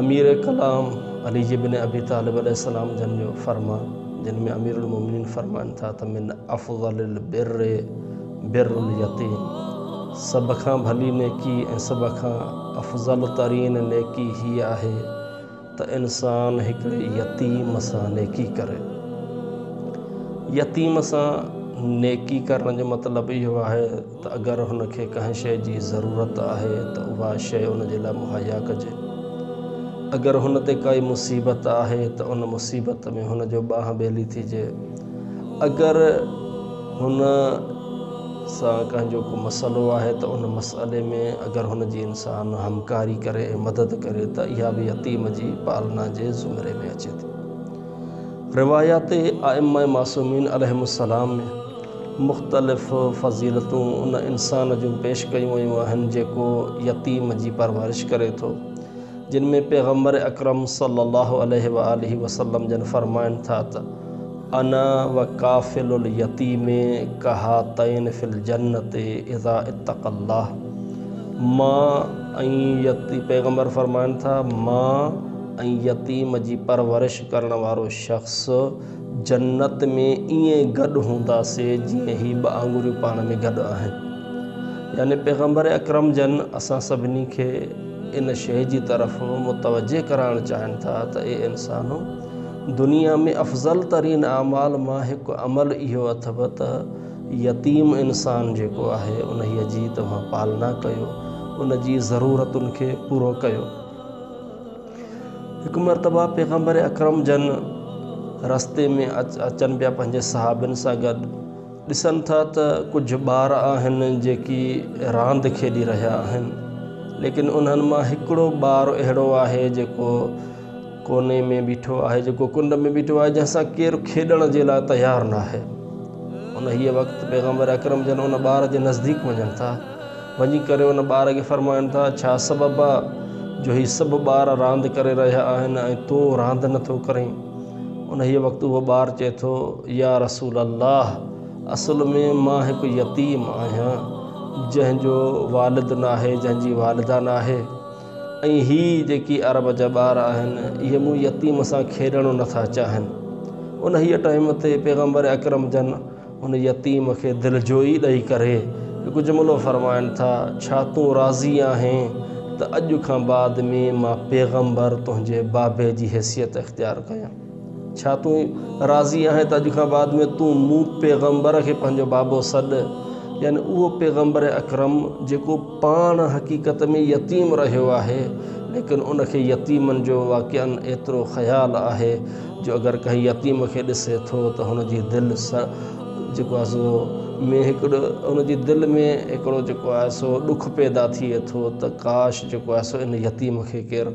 امير ڪلام علي جي بن ابي طالب عليه السلام جن جو فرمان جن ۾ امير المومنين فرمائن ٿا ته من افضل البر بر اليتيم سڀ کان ڀلي نيڪي ۽ سڀ کان افضل ترين نيڪي هيء آهي ته انسان هڪڙي يتيم سان نيڪي ڪري. يتيم سان نيڪي ڪرڻ جو مطلب اهو آهي ته اگر هن کي ڪنهن شيء جي ضرورت آهي ته اها شيء ان جي لاء مهيا ڪجي. اگر هن تي ڪائي مصيبت آهي ته ان مصيبت ۾ هن جو ٻانهن ٻيلي ٿيجي. اگر هن سان ڪنهن جو ڪو مسئلو آهي ته ان مسئلي ۾ اگر هن جي انسان همڪاري ڪري ۽ مدد ڪري ته اها به يتيم جي پالنا جي زمري ۾ اچي ٿي. روايات ائمه معصومين عليهم السلام ۾ مختلف فضيلتون ان انسان جون پيش ڪيون ويون آهن جيڪو يتيم جي پرورش ڪري ٿو. جن ۾ پيغمبر اڪرم صلي الله عليه وآله وسلم جن فرمائن ٿا ته، انا وکافل اليتيم کهاتين في الجنة اذا اتقي الله مان ۽ پيغمبر فرمائن ٿا مان ۽ يتيم جي پرورش ڪرڻ وارو شخص جنت ۾ ائين گڏ هونداسي جيئن هي ٻه آڱريون پاڻ ۾ گڏ آهن يعني پيغمبر اڪرم جن اسان سڀني کي ان شيء جي طرف متوجهه ڪرائڻ چاهين ٿا ته اي انسانو! دنيا ۾ افضل ترين اعمال مان هڪ عمل اهو اٿئو ته يتيم انسان جيڪو آهي انهيء جي توهان پالنا ڪيو، ان جي ضرورتن کي پورو ڪيو. هڪ مرتبه پيغمبر اڪرم جن رستي ۾ اچن پيا پنهنجي صحابين سان گڏ، ڏسن ٿا ته ڪجهه ٻار آهن جيڪي راند کيڏي رهيا آهن ليڪن انهن مان هڪڙو ٻار اهڙو آهي جيڪو ڪوني ۾ بيٺو آهي جيڪو ڪنڊ ۾ بيٺو آهي جنهن سان ڪير کيڏڻ جي لاء تيار ناهي انهيء وقت پيغمبر اڪرم جن ان ٻار جي نزديڪ وڃن ٿا وڃي ڪري ان ٻار کي فرمائن ٿا ڇا سبب آهي جو هي سڀ ٻار راند ڪري رهيا آهن ۽ تون راند نٿو ڪرين انهيء وقت اهو ٻار چئي ٿو، يا رسول الله! اصل ۾ مان هڪ يتيم آهيان، جنهن جو والد ناهي، جنهن جي والده ناهي ۽ هي جيڪي عرب جا ٻار آهن، اهي مون يتيم سان کيڏڻ نٿا چاهين. انهيء ٽائيم تي پيغمبر اڪرم جن، ان يتيم کي دلجوئي ڏئي ڪري هڪ جملو فرمائن ٿا، ڇا تون راضي آهين ته اڄ کان بعد ۾ مان پيغمبر تنهنجي بابي جي حيثيت اختيار ڪيان؟ ڇا تون راضي آهين ته اڄ کان بعد ۾ تون مون پيغمبر کي پنهنجو بابو سڏ؟ يعني اهو پيغمبر اڪرم جيڪو پاڻ حقيقت ۾ يتيم رهيو آهي ليڪن ان کي يتيمن جو واقعا ايترو خيال آهي جو اگر ڪنهن يتيم کي ڏسي ٿو ته هن جي دل جيڪو آهي سو ۾ هڪڙو ان جي دل ۾ هڪڙو جيڪو آهي سو ڏک پيدا ٿئي ٿو ته ڪاش جيڪو آهي سو ان يتيم کي ڪير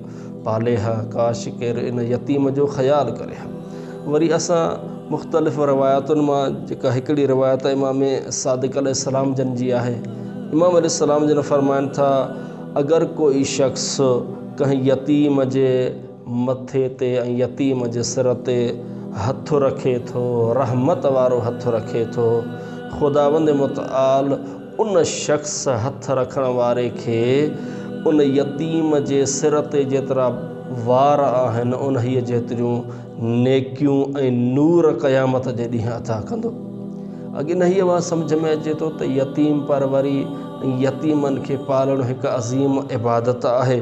پالي ها ڪاش ڪير ان يتيم جو خيال ڪري ها وري اسان مختلف روايتن مان جيڪا هڪڙي روايت امام صادق عليه السلام جن جي آهي امام عليه السلام جن فرمائن ٿا اگر ڪوئي شخص ڪنهن يتيم جي مٿي تي ۽ يتيم جي سر تي هٿ رکي ٿو، رحمت وارو هٿ رکي ٿو. خداوند متعال ان شخص هٿ رکڻ واري کي ان يتيم جي سر تي جيترا وار آهن انهيء جيتريون نيڪيون ۽ نور قيامت جي ڏينهن عطا ڪندو. اڳ انهيء وات سمجهه ۾ اچي ٿو ته يتيم پروري ۽ يتيمن کي پالڻ هڪ عظيم عبادت آهي.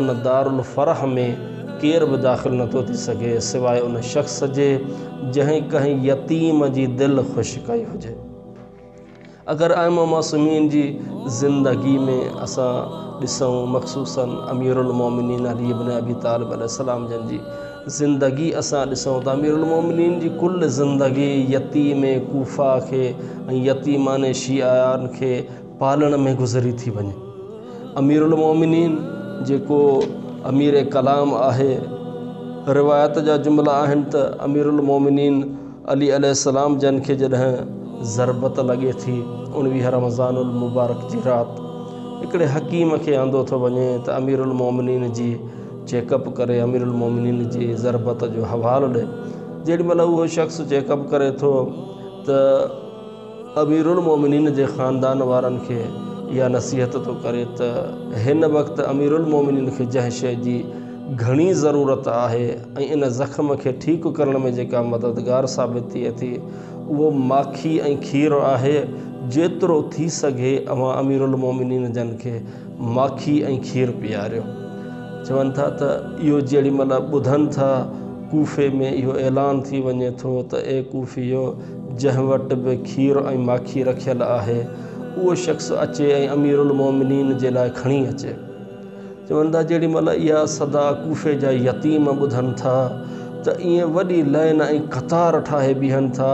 ان دار الفرح ۾ ڪير به داخل نه ٿو ٿي سگهي سواء ان شخص جي جنهن ڪنهن يتيم جي دل خوش ڪئي هجي. اگر ائمه معصومين جي زندگي ۾ اسان ڏسون مخصوصاً اميرالمومنين علي بن ابي طالب عليه السلام جن جي زندگي اسان ڏسون ته اميرالمومنين جي ڪل زندگي يتيم ڪوفه کي ۽ يتيمان شيعان کي پالڻ ۾ گذري ٿي وڃي امير المومنين جيڪو امير ڪلام آهي روايت جا جملا آهن ته امير المومنين علي عليه السلام جن کي جڏهن ضربت لڳي ٿي اڻويهه رمضان المبارڪ جي رات هڪڙي حڪيم کي آندو ٿو وڃي ته امير المومنين جي چيڪ اپ ڪري امير المومنين جي ضربت جو حوالو ڏي جيڏي مهل اهو شخص چيڪ اپ ڪري ٿو ته اميرالمومنين جي خاندان وارن کي اها نصيحت ٿو ڪري ته هن وقت اميرالمومنين کي جنهن شيء جي گهڻي ضرورت آهي ۽ ان زخم کي ٺيڪ ڪرڻ ۾ جيڪا مددگار ثابت ٿئي ٿي اهو ماکي ۽ کير آهي، جيترو ٿي سگهي اوهان اميرالمومنين جن کي ماکي ۽ کير پياريو. چون ٿا ته اهو جيڏي مهل ٻڌن ٿا ڪوفي ۾ اهو اعلان ٿي وڃي ٿو ته اي ڪوفيو! جنهن وٽ به کير ۽ ماکي رکيل آهي، اهو شخص اچي ۽ اميرالمؤمنين جي لاء کڻي اچي. چون ٿا جيڏي مهل اها صدا ڪوفي جا يتيم ٻڌن ٿا ته ائين وڏي لائين ۽ قطار ٺاهي بيهن ٿا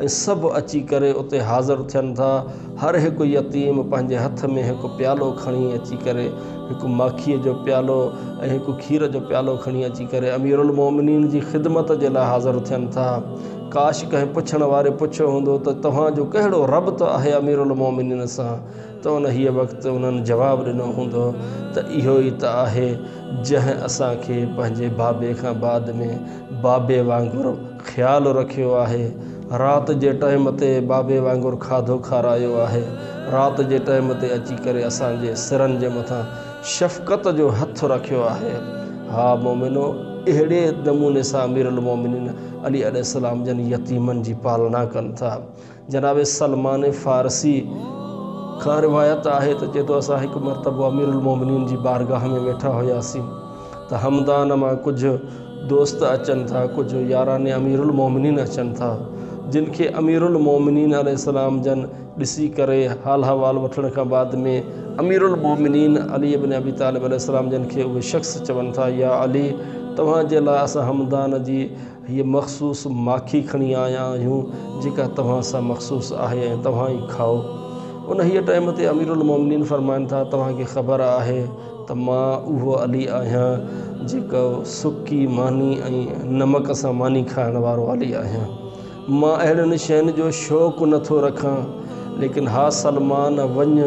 ۽ سڀ اچي ڪري اتي حاضر ٿين ٿا. هر هڪ يتيم پنهنجي هٿ ۾ هڪ پيالو کڻي اچي ڪري هڪ ماکيء جو پيالو ۽ هڪ کير جو پيالو کڻي اچي ڪري اميرالمؤمنين جي خدمت جي لاء حاضر ٿين ٿا. ڪاش ڪنهن پڇڻ واري پڇيو هوندو ته توهان جو ڪهڙو ربط آهي اميرالمومنين سان ته انهيء وقت انهن جواب ڏنو هوندو ته اهو ئي ته آهي جنهن اسان کي پنهنجي بابي کان بعد ۾ بابي وانگر خيال رکيو آهي، رات جي ٽئيم تي بابي وانگر کاڌو کارايو آهي، رات جي ٽئيم تي اچي ڪري اسان جي سرن جي مٿان شفقت جو هٿ رکيو آهي. ها مومنو! اهڙي نموني سان اميرالمومنين علي عليه السلام جن يتيمن جي پالنا ڪن ٿا. جناب سلمان فارسي کان روايت آهي ته چئي ٿو اسان هڪ مرتبو امير المومنين جي بارگاهه ۾ ويٺا هياسين ته همدان مان ڪجهه دوست اچن ٿا ڪجهه ياران امير المومنين اچن ٿا جن کي امير المومنين عليه السلام جن ڏسي ڪري حال احوال وٺڻ کان بعد ۾ امير المومنين علي بن ابي طالب عليه السلام جن کي اهي شخص چون ٿا يا علي توهان جي لاء اسان همدان جي هيء مخصوص ماکي کڻي آيا آهيون جيڪا توهان سان مخصوص آهي ۽ توهان ئي کائو انهيء ٽائيم تي امير المومنين فرمائن ٿا توهان کي خبر آهي ته مان اهو علي آهيان جيڪو سڪي ماني ۽ نمڪ سان ماني کائڻ وارو علي آهيان مان اهڙين شين جو شوق نه ٿو رکان، ليڪن ها سلمان! وڃ،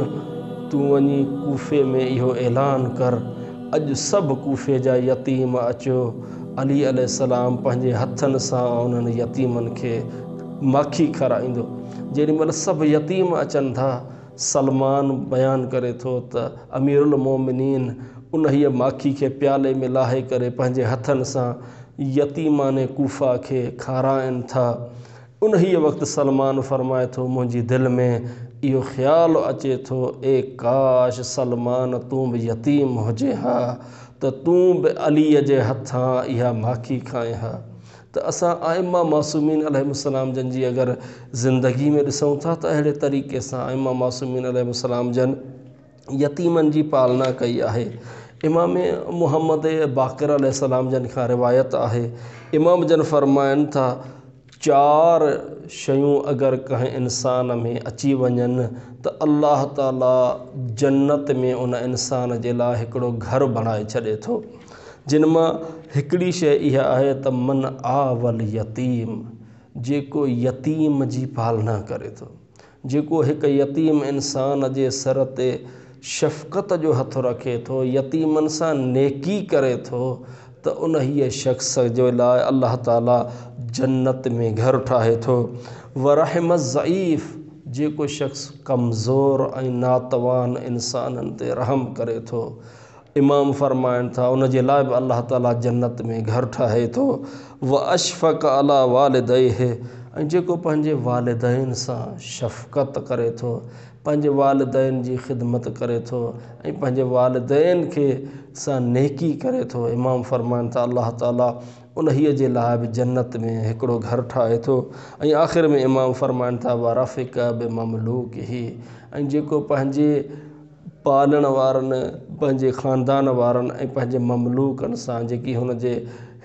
تون وڃي ڪوفي ۾ اهو اعلان ڪر، اڄ سڀ ڪوفي جا يتيم اچو. علي عليه السلام پنهنجي هٿن سان انهن يتيمن کي ماکي کارائيندو. جيڏي مهل سڀ يتيم اچن ٿا، سلمان بيان ڪري ٿو ته اميرالمومنين انهيء ماکي کي پيالي ۾ لاهي ڪري پنهنجي هٿن سان يتيمان ڪوفه کي کارائن ٿا. انهيء وقت سلمان فرمائي ٿو، منهنجي دل ۾ اهو خيال اچي ٿو، اي ڪاش سلمان تون به يتيم هجين ها ته تون به عليء جي هٿان اها ماکي کائين ها ته اسان ائمه معصومين عليهم السلام جن جي اگر زندگي ۾ ڏسون ٿا ته اهڙي طريقي سان ائمه معصومين عليهم السلام جن يتيمن جي پالنا ڪئي آهي. امام محمد باقر عليه السلام جن کان روايت آهي، امام جن فرمائن ٿا، چار شيون اگر ڪنهن انسان ۾ اچي وڃن ته الله تعاليٰ جنت ۾ ان انسان جي لاء هڪڙو گهر بڻائي ڇڏي ٿو. جن مان هڪڙي شيء اها آهي ته من آوى اليتيم، جيڪو يتيم جي پالنا ڪري ٿو. جيڪو هڪ يتيم انسان جي سر تي شفقت جو هٿ رکي ٿو، يتيمن سان نيڪي ڪري ٿو ته انهيء شخص جي لاء الله تعاليٰ جنت ۾ گهر ٺاهي ٿو. ورحم الضعيف، جيڪو شخص ڪمزور ۽ ناتوان انسانن تي رحم ڪري ٿو، امام فرمائن ٿا، ان جي لاء به الله تعالي جنت ۾ گهر ٺاهي ٿو، واشفق علي والديه ۽ جيڪو پنهنجي والدين سان شفقت ڪري ٿو، پنهنجي والدين جي خدمت ڪري ٿو ۽ پنهنجي والدين کي سان نيڪي ڪري ٿو، امام فرمائن ٿا، الله تعالي انهيء جي لاء به جنت ۾ هڪڙو گهر ٺاهي ٿو ۽ آخر ۾ امام فرمائن ٿا، ورفق بمملوڪه ۽ جيڪو پنهنجي پالڻ وارن، پنهنجي خاندان وارن ۽ پنهنجي مملوڪن سان جيڪي هن جي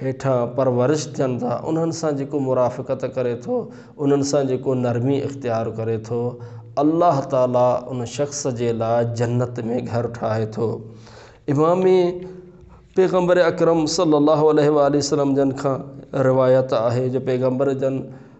هيٺان پرورش ٿين ٿا، انهن سان جيڪو مرافقت ڪري ٿو، انهن سان جيڪو نرمي اختيار ڪري ٿو، الله تعاليٰ ان شخص جي لاء جنت ۾ گهر ٺاهي ٿو. امام پيغمبر اڪرم صلّي اللّٰه عليه واٰله وسلّم جن کان روايت آهي جو پيغمبر جن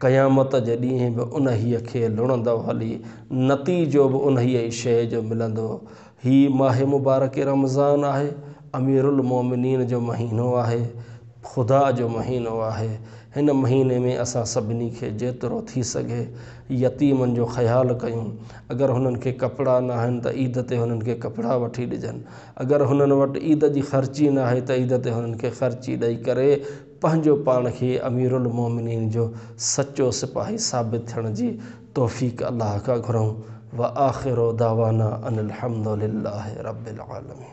قيامت جي ڏينهن به انهيء کي لڻندو هلي، نتيجو به انهيء ئي شيء جو ملندو. هي ماه مبارڪ رمضان آهي، اميرالمومنين جو مهينو آهي، خدا جو مهينو آهي. هن مهيني ۾ اسان سڀني کي جيترو ٿي سگهي يتيمن جو خيال ڪيون. اگر هنن کي ڪپڙا ناهن ته عيد تي هنن کي ڪپڙا وٺي ڏجن. اگر هنن وٽ عيد جي خرچي ناهي ته عيد تي هنن کي خرچي ڏئي ڪري پنهنجو پاڻ کي اميرالمومنين جو سچو سپاهي ثابت ٿيڻ جي توفيق الله کان گهرون وآخر دعوانا ان الحمدلله رب العالمين.